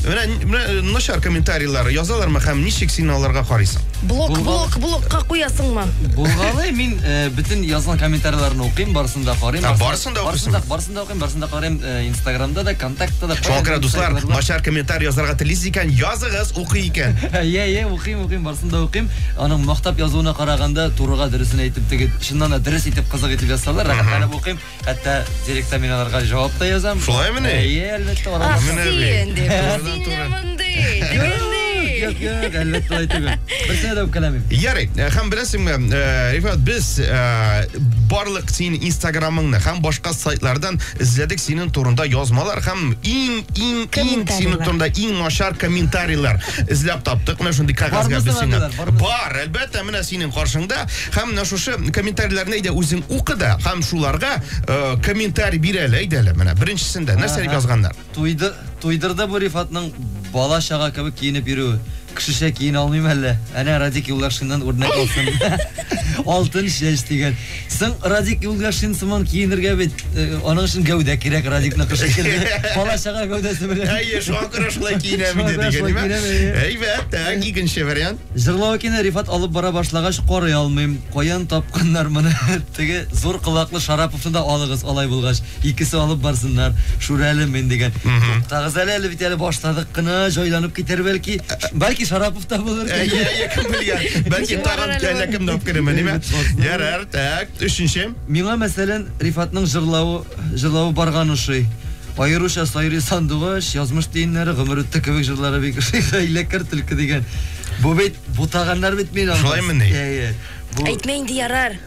Менә, менә э, начар комментарийлар язалармы һәм ничек син аларга карыйсың? Блок, Булган- блок, блокка куясыңмы? Булгалы мин э, бөтен язган комментарийларны укыйм, барысын да карыйм. А, барысын да барысын да, укыйсың? барысын да укыйм, барысын да карыйм. Э, Инстаграмда да, контактта да. Шуңа күрә, дуслар, Сайтта да. начар комментарий язарга телисез икән, языгыз, укый икән. Йә, йә, укыйм, укыйм, барысын да укыйм. Аның мактап язуына караганда, турыга дөресен әйтеп, теге чыннан да дөрес итеп, кызык итеп язсалар, рәхәтләнеп укыйм. Хәтта директор мин аларга җавап та язам. Шулай мени? Әйе, әлбәттә, алар. Ах, Менә бит. син дип. Турыдан Син туры. мондый, тегендый. Юк, юк, әлбәттә алай түгел. Берсенә дә үпкәләмим. Ярый, э, һәм беләсеңме, э, Рифат, без э, барлык синең инстаграмыңны һәм башка сайтлардан эзләдек синең турында язмалар һәм иң иң иң синең Комментарийлар. турында иң начар комментарийлар эзләп таптык. Менә шундый кәгазьгә Бармы без сиңа соңгы Бар, әлбәттә, менә синең каршыңда. Һәм менә шушы комментарийләрне әйдә үзең укы да, һәм шуларга э, комментарий бир әле, әйдә әле. Менә беренчесендә нәрсә дип язганнар? Туйды, туйдырды бу Рифатның бала чага кебек киенеп йөрүе. Кешечә киенә алмыйм әллә. Әнә Радик Юллашиннан үрнәк алсын. Алтын чәч дигән. Соң Радик Юлгашин сыман киенергә бит, э, аның өчен гәүдә кирәк Радикныкы шикелле. Бала чага гәүдәсе белән. Әйе, шуңа күрә шулай киенәм инде Шуңа күрә шулай дигән киенәм, әйе. Әйбәт, так, икенче вариант. Җырлау икән, ә Рифат алып бара башлагач карый алмыйм. Каян тапканнар моны? Теге зур колаклы Шараповны да алыгыз, алай булгач. Икесе алып барсыннар. Шүрәле мин дигән. Туктагыз әле, әле бит әле башладык кына, җайланып китәр бәлки. Бәлки Шарапов табылыр Ә, кем? я- я кем белгән? Бәлки Чыгарыр тагын әле әллә ул. кемне алып кереме, ниме? Ярар, так, өченче. Миңа, мәсәлән, Рифатның җырлавы, җырлавы барган ошый. Аеруча Сайрый сандугач, язмыш тиеннәре, гомер үтте кебек җырлары бик ошый. Хәйләкәр түлке дигән. Бу бит бутаганнар бит мин. Шулаймыни? Әйе. Бу Әйтмә инде ярар.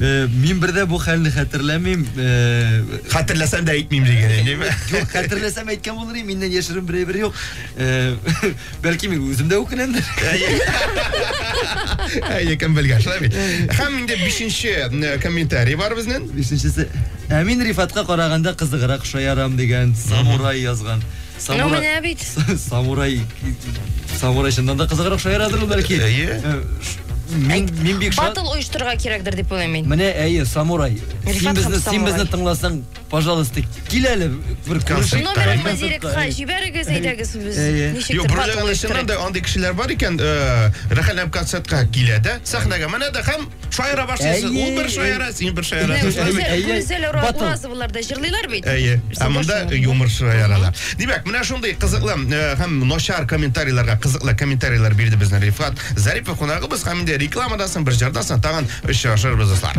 Э, мин бер дә бу хәлне хәтерләмим. Э, Хәтерләсәм дә әйтмим диген, әйдиме? Юк, хәтерләсәм әйткән булыр идем, миннән яшерен бер әйбер юк. Э, бәлки мин үзем дә үкенәмдер. Әйе, кем белгән, шулай бит. Һәм инде бишенче э, комментарий бар безнең. Бишенчесе. Ә мин Рифатка караганда кызыграк шаярам дигән самурай язган. Ну, менә бит. Самурай... Самурай чыннан да кызыграк шаярыдыр бәлки. Әйе. Э, мин, мин бик шат. Батл оештырырга кирәкдер дип уйлыйм мин. Менә әйе, самурай. Син безне, син безне тыңласаң, пожалуйста, кил әле бер концерт. Номерыңны директка җибәрегез, әйдәгез без. Юк, берләгән чыннан да андый кешеләр бар икән, э, рәхәтләнеп концертка килә дә, сәхнәгә менә дә һәм Шаяра башлыйсыз. Ул бер шаяра, син бер шаяра. Гүзәл Уразовалар да җырлыйлар бит. Әйе. Ә монда юмор шаяралар. Димәк, менә шундый кызыклы э, һәм начар комментарийларга кызыклы комментарийлар бирде безне Рифат Зарипов кунагыбыз һәм инде рекламадан соң бер җырдан соң тагын очрашырбыз, дуслар.